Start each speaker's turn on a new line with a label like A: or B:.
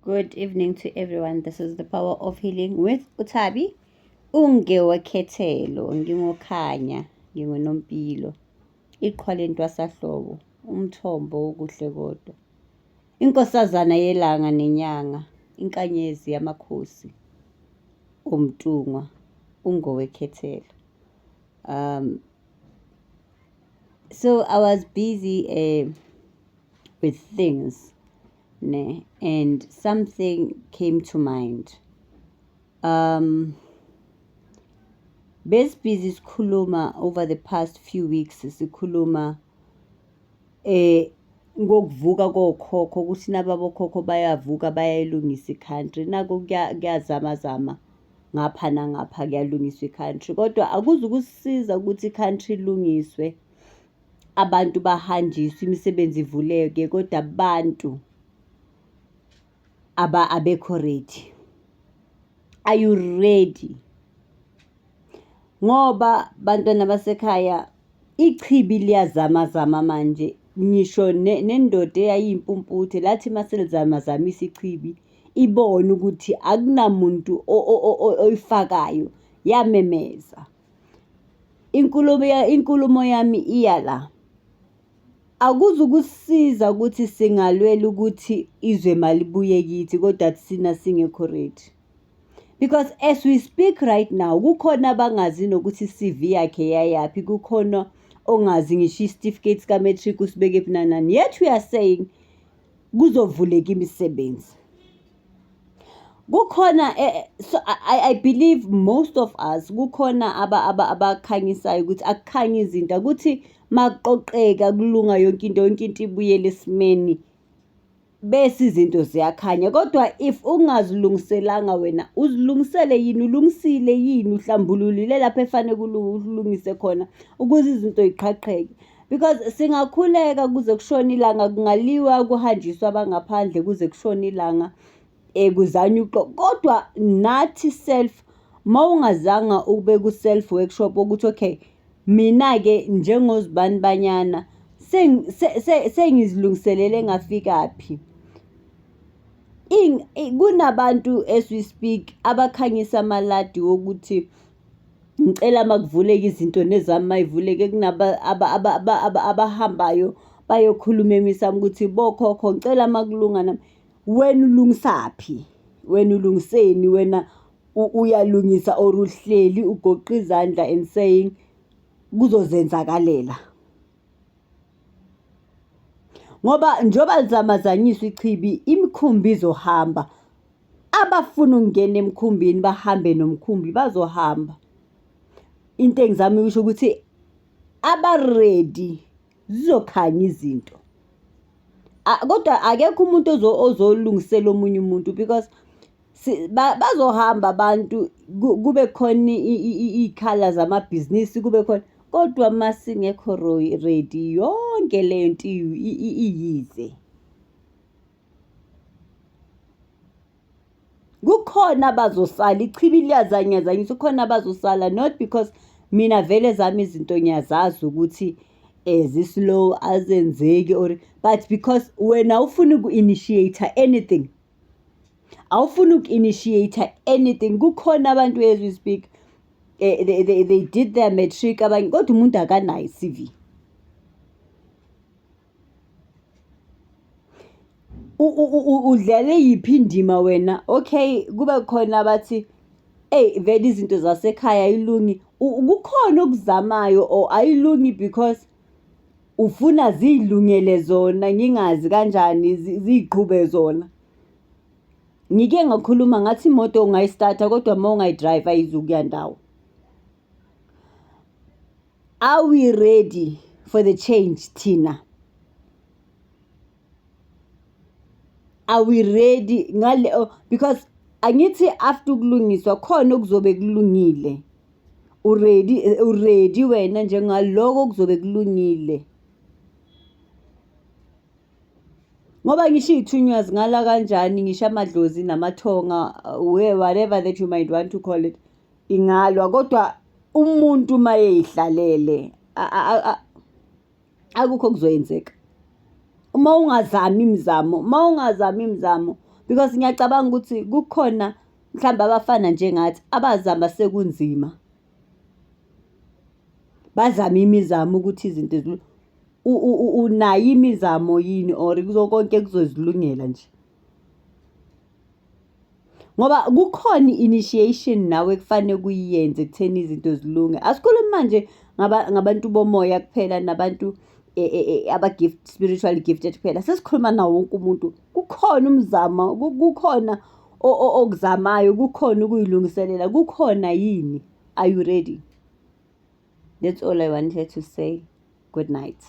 A: Good evening to everyone. This is the power of healing with Utabi. Ungewekhethelo, ngingokhanya, ngingonompilo. Iqhwa lentwasahlobo, umthombo wokuhle kodwa. Inkosazana yelanga nenyanga, inkanyezi yamakhosi. Umtungwa, ungowekhethelo. Um, so I was busy uh, with things ne and something came to mind um besibhizi sikhuluma over the past few weeks sikhuluma eh ngokuvuka kokhokho ukuthi nababokhokho bayavuka bayayilungisa i-country nako kuyazamazama ngapha nangapha kuyalungiswa i-country kodwa akuzi ukusiza ukuthi i-country ilungiswe abantu bahanjiswe imisebenzi ivuleke kodwa abantu aba abekho ready are you ready ngoba bantwana basekhaya ichibi liyazamazama manje ngisho nendoda eyayiyimpumputhe lathi maselizamazamisa ichibi ibone ukuthi akunamuntu oyifakayo yamemeza Inkulumo inkulumo yami iya la. Akuzukusiza ukuthi singalwela ukuthi izwe malibuye kithi kodwa thina singekho right. Because as we speak right now, kukhona abangazi nokuthi i-C_V yakhe yayaphi, kukhona ongazi ngisho isitifiketi sika-matric usibekephi nani nani. Yet we are saying kuzovuleka imisebenzi. kukhona eh, eh, so I, I believe most of us kukhona abakhanyisayo ukuthi akukhanye izinto ukuthi makuqoqeka kulunga yonke into yonke into ibuyele esimeni bese izinto ziyakhanya kodwa if ungazilungiselanga wena uzilungisele yini ulungisile yini uhlambululile lapho efanele kulungise khona ukuze izinto yiqhaqheke because singakhuleka kuze kushone ilanga kungaliwa kuhanjiswa abangaphandle kuze kushone ilanga um eh, kuzanywe uqo kodwa nathi self uma ungazanga ukube ku-self workshop ukuthi okay mina-ke njengozibani banyana sengizilungiselele ngafikaphi kunabantu as we speak abakhanyisa amaladi wokuthi ngicela makuvuleke izinto nezami mayivuleke kunaba abahambayo bayokhuluma emisamo ukuthi bokhokho ngicela makulunga nami wena ulungisaphi wena ulungiseni wena uyalungisa or uhleli ugoqa izandla and saying kuzozenzakalela ngoba njengoba lizamazanyiswa ichibi imikhumbi izohamba abafuna ukungena emkhumbini bahambe nomkhumbi bazohamba into engizama ukusho ukuthi abaredi zizokhanya izinto kodwa akekho umuntu ozolungisela omunye umuntu because Bazohamba abantu kube khona iy'khala zamabhizinisi kube khona, kodwa uma singekho ready yonke le nto iyize. Kukhona abazosala ichibi liyazanyazanyisa kukhona abazosala not because mina vele ezami izinto ngiyazazi ukuthi zi-slow azenzeki or but because wena awufuni uku-initiate-a anything. awufuni uku-initiate anything kukhona abantu as we speak eh, they, they, they did their matric abanye kodwa umuntu akanayo i-cv udlale yiphi indima wena okay kube khona abathi eyi vele izinto zasekhaya ayilungi kukhona okuzamayo or ayilungi because Ufuna ziyilungele zona ngingazi kanjani ziyiqhube zona. Ngike ngakhuluma ngathi imoto ungayisthatha kodwa uma ungayidrayiva ayizukuya ndawo. Are we ready for the change thina? are we ready ngale oh, because angithi after ukulungiswa khona okuzobe kulungile uready uready wena njengaloko okuzobe kulungile ngoba ngisho iy'thunywa zingala kanjani ngisho amadlozi namathonga whatever that you might want to call it ingalwa kodwa umuntu uma eyihlalele akukho kuzoyenzeka uma ungazami imizamo uma ungazami imizamo because ngiyacabanga ukuthi kukhona mhlawumbe abafana njengathi abazama sekunzima bazame imizamo ukuthi izinto unayo imizamo yini or konke kuzozilungela nje. ngoba kukhona i-initiation nawe ekufanele kuyiyenze ekutheni izinto zilunge asikhulumi manje ngabantu bomoya kuphela nabantu e, e, e, aba-gift spiritual gifted kuphela sesikhuluma nawo wonke umuntu kukhona umzamo kukhona okuzamayo kukhona ukuyilungiselela kukhona yini are you ready that's all i wanted to say good night